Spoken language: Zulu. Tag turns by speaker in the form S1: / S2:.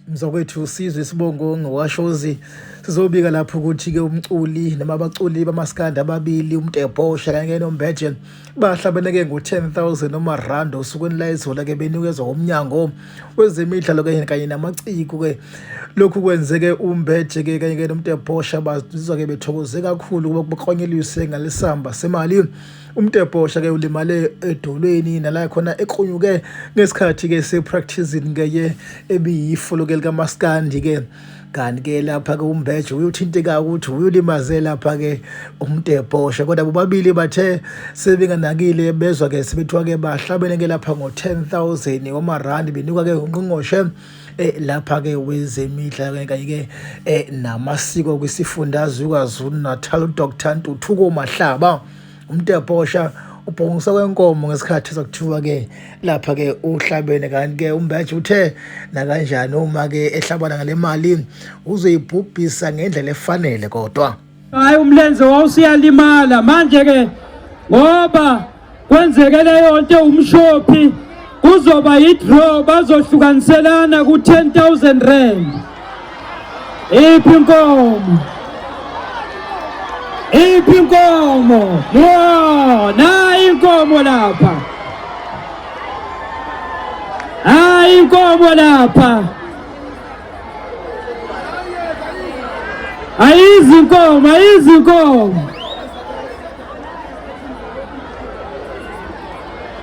S1: mzakwethu sizwe isibongo ngowashozi sizobika lapho ukuthi-ke umculi noma abaculi bamaskandi ababili umtebhosha kanye nombheje bahlabeneke ngo-10000 noma rand osukwini layizola-ke benikezwa umnyango wezemidlalo kanye kanye namaciko-ke lokhu kwenzeke umbheje-ke kanye-ke nomtebhosha bazizwa-ke bethokoze kakhulu ukuba kubaklonyelise ngalesamba semali Umtebhosha ke ulimale edolweni nala khona eqhunyuke ngesikhathi ke se practicing ngeye ebiyifolo ke lika Maskandi ke kanti ke lapha ke umbeje uyothinteka ukuthi uyolimaze lapha ke umtebhosha kodwa bobabili bathe sebenganakile bezwa ke sebethiwa ke bahlabene ke lapha ngo 10000 wama rand benikwa ke ungqongqoshe eh, lapha ke wezemidlalo kanye ke eh, namasiko kwisifundazwe kwaZulu Natal uDr Ntuthuko Mahlaba umtebhosha ubhongisa kwenkomo ngesikhathi sokuthiwa ke lapha ke uhlabene kanti ke umbeje uthe nakanjani uma ke ehlabana ngalemali uzoyibhubhisa ngendlela efanele kodwa hayi umlenze
S2: wawusiyalimala manje ke ngoba kwenzeke leyo nto umshophi kuzoba yidraw bazohlukaniselana ku-10000 rand iphi inkomo iphi inkomo yo nayi inkomo lapha hayi inkomo lapha ayizinkomo ayizinkomo